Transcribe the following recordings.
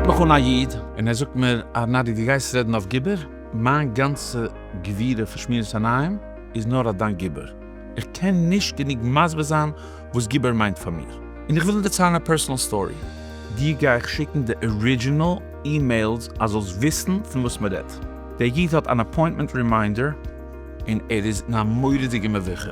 רופט מיך אן א איד און ער זאגט מיר, ארנאדי דו גייסט רעדן אויף גיבור? מיין גאנצע גבירה פון שמירת עיניים איז נאר אויף דיין גיבור. איך קען נישט גענוג מסביר זיין וואס גיבור מיינט פאר מיר, און איך וויל דערציילן א פערסענאל סטארי. דיר גיי איך שיקן די ארידזשינעל אימעילס אז זאלסט וויסן פון וואס מען רעדט. דער איד האט אן אפוינטמענט רימיינדער און ער איז אין א מורא'דיגע מביכה.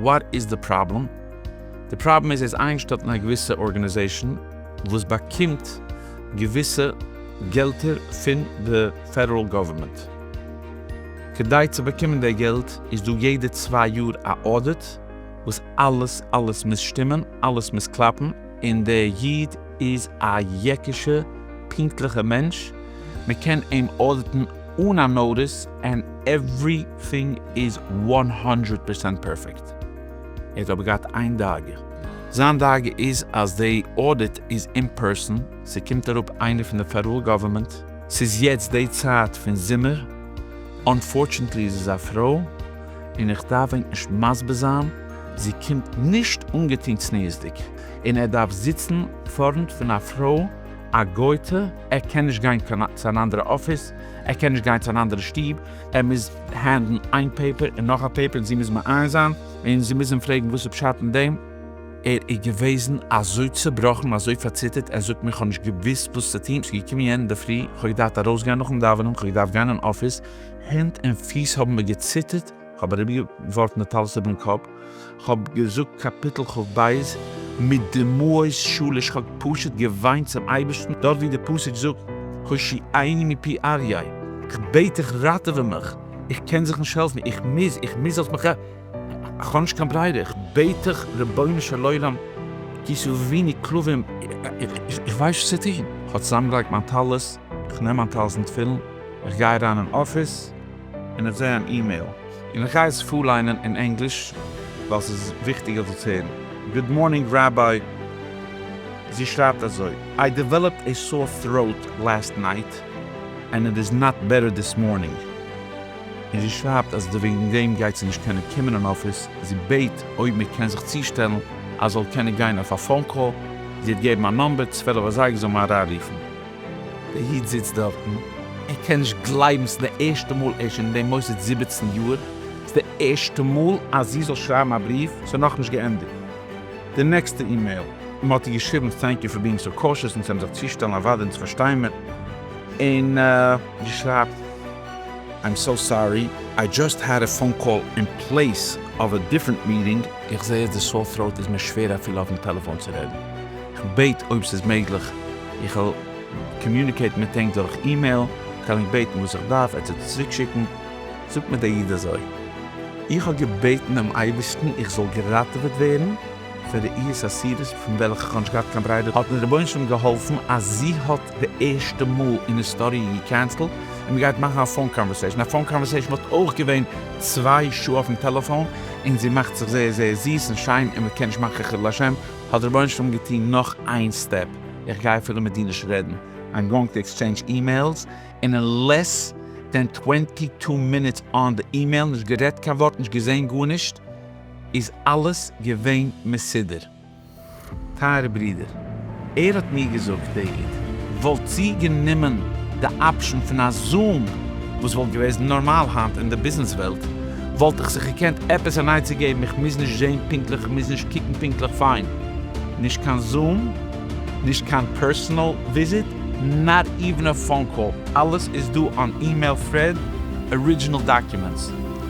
וואט איז די פראבלעם? די פראבלעם איז ער איז איינגעשטעלט אין א געוויסע ארגענעזעישאן וואס באקומט געוויסע געלטער פון די פעדעראל גאווערמענט. כדי צו באקומען די געלט איז דא יעדע צוויי יאר א אודיט וואס אלעס אלעס מוז שטימען אלעס מוז קלאפן און די איד איז א יעקישע פונקטליכע מענטש מען קען אים אודיטן אן א נאוטיס ענד עווריטינג איז וואן האנדרעט פערסענט פערפעקט ער האט אבער געהאט איין דאגה זיין דאגה איז אז די אודיט איז אין פערסאן ס'קומט אראפ איינער פון די פעדעראל גאווערמענט. ס'איז יעצט די צייט פון זומער, אנפארטשענטלי איז עס א פרוי, און איך דארף ענק נישט מסביר זיין, זי קומט נישט אנגעטון צניעות'דיג, און ער דארף זיצן פארנט פון א פרוי א גוי'טע, ער קען נישט גיין צו אן אנדערע אפיס, ער קען נישט גיין צו אן אנדערע שטוב, ער מוז הענדלן איין פעיפער און נאך א פעיפער און זי מוז מעיין זיין און זי מוז אים פרעגן וואס איז פשט אין דעם. ער איז געוועזן אזוי צעבראכן, אזוי פארציטערט, ער זאגט מיר, כ'האב נישט געוואוסט וואס צו טון, ס'איז געקומען יענעם אינדערפרי, כ'האב געדארפט ארויסגיין נאכן דאווענען, כ'האב געדארפט גיין אין אפיס, הענט און פיס האבן מיר געציטערט, כ'האב אריבערגעווארפן די טלית איבערן קאפ, כ'האב געזאגט קאפיטל כב בית מיט דמעות שליש, כ'האב פשוט געוויינט צום אייבערשטן, דארט ווי די פסוק זאגט, הושיעני מפי אריה, כ'בעט דיך ראטעווע מיך, איך קען זיך נישט העלפן, איך מוז, איך מוז זאלסט מיך. כ'האב נישט קיין ברירה, איך בעט דיך רבונו של עולם, טו ס'איז וויניג כלבים, איך ווייס נישט צו טון, כ'האב צוזאמגעלייגט מיין טלית, כ'נעם מיין טלית און תפילין, כ'גיי אריין אין אפיס, און איך זע אן אימעיל, און איך גיי עס פארליינען אין ענגליש, ווייל ס'איז וויכטיג איך זאל עס הערן, גוד מארנינג ראביי, זי שרייבט אזוי, איי דעוועלאפד עי סאור טראוט לאסט נייט, ענד איט איז נאט בעטער דיס מארנינג. און זי שרייבט אז די וועגן דעם גייט זי נישט קענען קומען אין אפיס, זי בעט אויב מען קען זיך צושטעלן אז זאל קענען גיין אויף א פאון קאל, זי האט געבן א נאמבער צוועלף אזייגער זאל מען אריין רופן. דער איד זיצט דארטן, ער קען נישט גלייבן, ס'איז די ערשטע מאל, ער איז שוין אין דעם מוסד זיבעצן יאר, ס'איז די ערשטע מאל אז זי זאל שרייבן א בריוו, ס'איז נאכנישט געענדיגט די נעקסטע אימעיל, מען האט איר געשריבן טענק יו פאר בינג סאו קאושעס און צו אים זיך צושטעלן, אוודאי אונז פארשטיי מיר, און זי שרייבט. איים סאו סארי, איי דזשאסט העד א פאון קאל אין פלעיס אוו א דיפרענט מיטינג. איך זעה אז די סאור טראוט איז מיר שווער אפילו אויפן טעלעפאון צו רעדן. איך בעט אויב ס'איז מעגליך איך זאל קאמיוניקעיטן מיט ענק דורך אימעיל, כ'על ענק בעטן וואס איך דארף, ער טוט עס צוריקשיקן. זאגט מיר דער איד אזוי, איך האב געבעטן דעם אייבערשטן איך זאל געראטעוועט ווערן, פון ר' איהס אסירות פון וועלכע כ'האב נישט געהאט קיין בריידע האט מיר רבונו של עולם געהאלפן אז זי האט די ערשטע מאל אין היסטאריע געקענסלט און מ'גייט מאכן א פאון קאנווערסעישן, א פאון קאנווערסעישן וואלט אויך געווען צוויי שעה אויפן טעלעפאון, און זי מאכט זיך זייער זייער זיס און שיין און מ'קען נישט מאכן חילול השם, האט דער רבונו של עולם געטוהן נאך איין סטעפ, איך גיי אפילו מיט דיר נישט רעדן, איים גאוינג טו עקסטשעינדזש אימעילס, און אין לעס דען טווענטי טו מינוטס אן די אימעיל, נישט גערעדט קיין ווארט, נישט געזעהן גארנישט. איז אלעס געווען מסודר. טייערע ברידער, ער האט מיר געזאגט דער איד וואלט צו גענומען די אפשן פון א זאאם וואס וואלט געוועזן נארמאל היינט אין די ביזנעס וועלט וואלט איך זיך געקענט עפעס אן עצה געבן איך מוז נישט זעהן פונקטליך איך מוז נישט קוקן פונקטליך פיין נישט קיין זאאם נישט קיין פערסענעל וויזיט נאט איווען א פאון קאל אלעס איז דא אן אימעיל פרעד ארידזשינעל דאקומענטס.